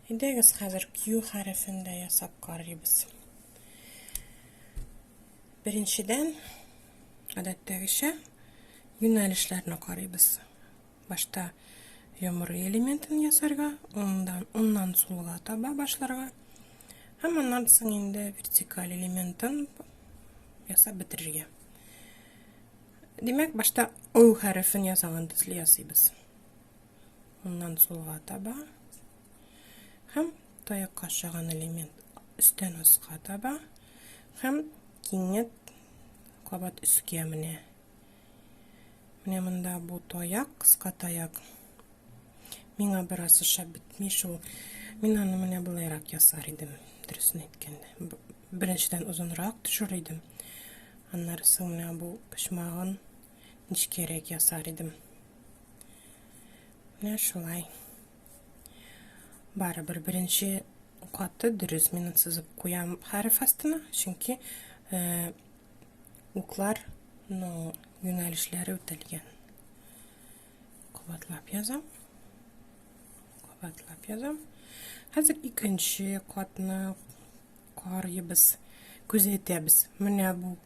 Әйдәгез хәзер Q хәрефен дә ясап карыйбыз. Беренчедән, гадәттәгечә, юнәлешләрне карыйбыз. Башта йомры элементын ясарга, ондан, оннан сулга таба башларга. Һәм аннан соң инде вертикаль элементын ясап бетерергә. Димәк, башта O хәрефен ясаган төсле ясыйбыз. Моннан сулга таба. Һәм таякка ашаган элемент өстән аска таба. Һәм кинет кабат өскә менә. Менә монда бу таяк, кыска таяк. Миңа бераз ошап бетми шул. Мин аны менә болайрак ясар идем, дөресен әйткәндә. Беренчедән озынрак төшер идем. Аннары соң менә бу почмагын нечкәрәк ясар идем. Менә шулай. Барыбер беренче каты дөрес минут сызып куям хәреф астына, чөнки э, уклар ну, юнәлешләре үтәлгән. Кабатлап язам. Кабатлап язам. Хәзер икенче катны карыйбыз, күзәтәбез. Менә бу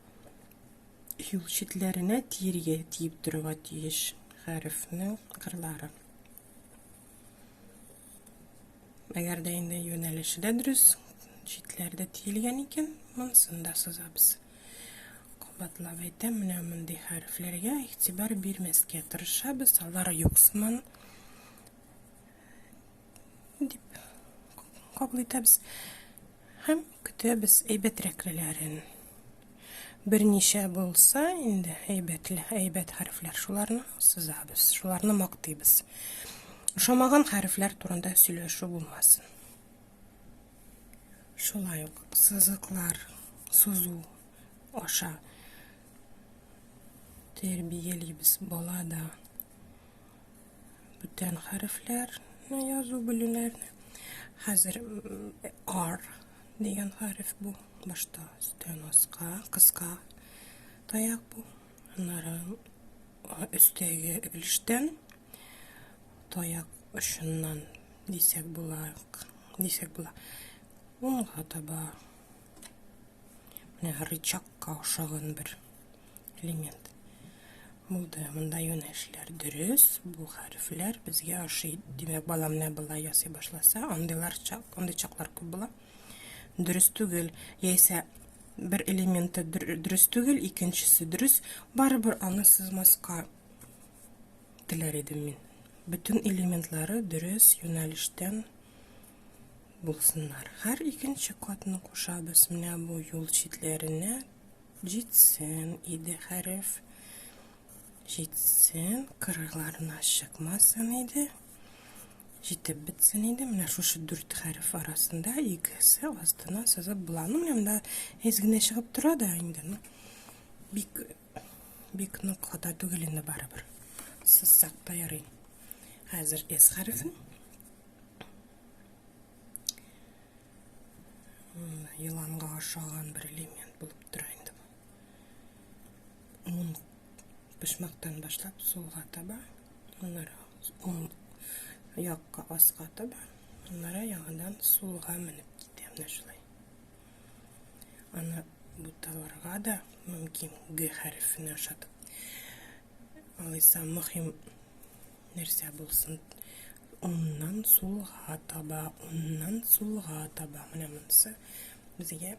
юл читләренә тиергә тиеп торырга тиеш хәрефнең кырлары әгәр дә инде юнәлеше дә дөрес читләрдә тиелгән икән монысын да сызабыз кабатлап әйтәм менә мондый хәрефләргә игътибар бирмәскә тырышабыз алар юксыман дип кабул итәбез һәм көтәбез әйбәтрәклеләрен берничә булса инде әйбәтле әйбәт хәрефләр шуларны сызабыз шуларны мактыйбыз ошамаган хәрефләр турында сөйләшү булмасын шулай ук сызыклар сузу аша тәрбиялибез балада Бүтән хәрефләр язу белүләрне. Хәзер R дигән хәреф бу. Башта өстән аска, кыска таяк бу. Аннары өстәге өлештән таяк очыннан дисәк була, дисәк була. Унга таба менә рычагка ошаган бер элемент. Булды, монда юнәшләр дөрес, бу хәрефләр безгә ашый. Димәк, бала менә болай ясый башласа, андыйлар чак, андый чаклар күп була. Дөрес түгел, яисә бер элементы дөрес түгел, икенчесе дөрес, барыбер аны сызмаска теләр идем мин. Бөтен элементлары дөрес юнәлештән булсыннар. Һәр икенче катны кушабыз. Менә бу юл читләренә Җитсен иде хәреф. Җитсен, кырыйларына чыкмасын иде. Җитеп бетсен иде. Менә шушы дүрт хәреф арасында икесе астына сызып була. Ну, менә монда әз генә чыгып тора да инде. Ну, бик бик нык хата түгел инде барыбер. Сызсак та ярый. Хәзер эс хәрефен Еланга ашаган бер элемент булып тора инде бу. Мун пешмәктән башлап сулга таба, аннары ун якка аска таба, аннары яңадан сулга менеп китә менә шулай. Аны буталарга да мөмкин Г хәрефенә ошатып. Алайса мөһим Нәрсә булсын? Уннан сулга таба, уннан сулга таба. Менә монысы безгә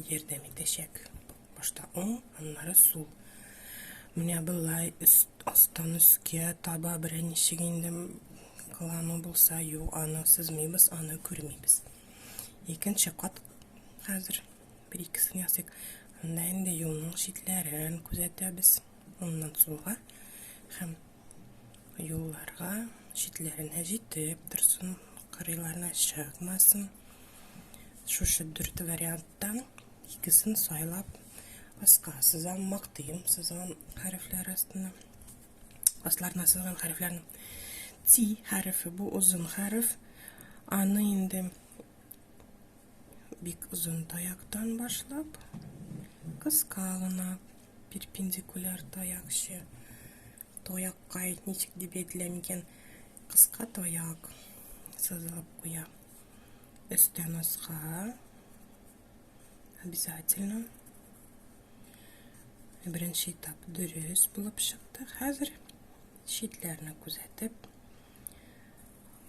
ярдәм итәчәк. Башта уң, аннары сул. Менә былай өст астан өскә таба беренче инде кылану булса, юк, аны сызмыйбыз, аны күрмибез. Икенче кат хәзер бер икесен ясыйк. Анда инде юлның читләрен күзәтәбез. Аннан сулга һәм юлларга читләренә җитеп торсын, кырыйларына чыкмасын. Шушы дүрт варианттан икесен сайлап аска сызам, мактыйм сызган хәрефләр астына. Асларына сызган хәрефләрнең ти хәрефе бу озын хәреф. Аны инде бик озын таяктан башлап кыска гына перпендикуляр таякчы. Таякка ничек дип әйтелә микән? Кыска таяк сызылып куя. Өстән аска обязательно беренче этап дөрес булып чыкты. Хәзер читләрне күзәтеп,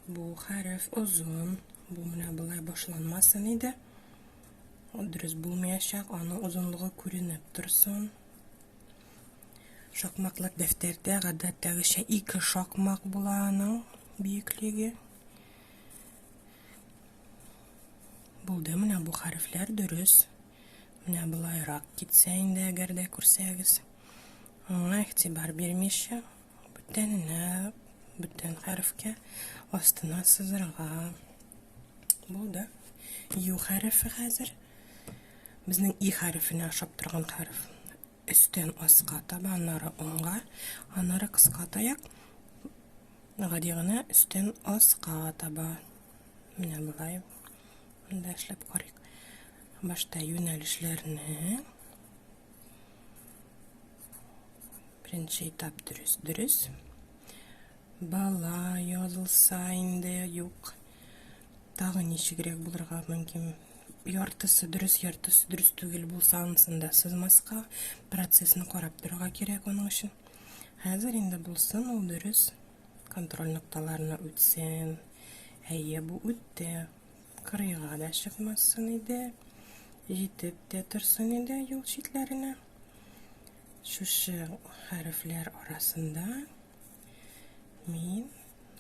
бу хәреф озын, бу менә болай башланмасын иде. Ул дөрес булмаячак, аның озынлыгы күренеп торсын. Шакмаклык дәфтәрдә гадәттәгечә ике шакмак була аның биеклеге. Булды, менә бу хәрефләр дөрес. Менә болайрак китсә инде, әгәр дә күрсәгез. Аңа игътибар бирмичә, Бүтәнләп, бүтән хәрефкә астына сызырга. Булды. Ю хәрефе хәзер. Безнең и хәрефенә ашап торган хәреф. Өстән аска таба, аннары уңга, аннары кыска таяк. Гади гына өстән аска таба. Менә болай. Монда эшләп карыйк. Башта юнәлешләрне Беренче этап дөрес, дөрес. Бала язылса инде юк. Тагын ничегрәк булырга мөмкин. Яртысы дөрес, яртысы дөрес түгел булса, ансын да сызмаска, процессны карап торырга кирәк аның өчен. Хәзер инде булсын ул дөрес. Контроль нокталарына үтсен. Әйе, бу үтте. Кырыйга да чыкмасын иде. Җитеп тә торсын иде юл читләренә. Шушы хәрефләр арасында мин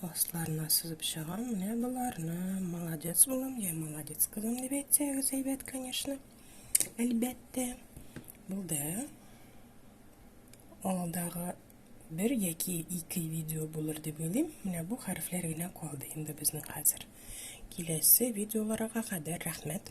асларына сызып чыгам. Менә боларны молодец булам, я молодец кызым дип әйтсәгез әйбәт, конечно. Әлбәттә. Булды. Алдагы бер яки ике видео булыр дип уйлыйм. Менә бу хәрефләр генә калды инде безнең хәзер. Киләсе видеоларга кадәр рәхмәт.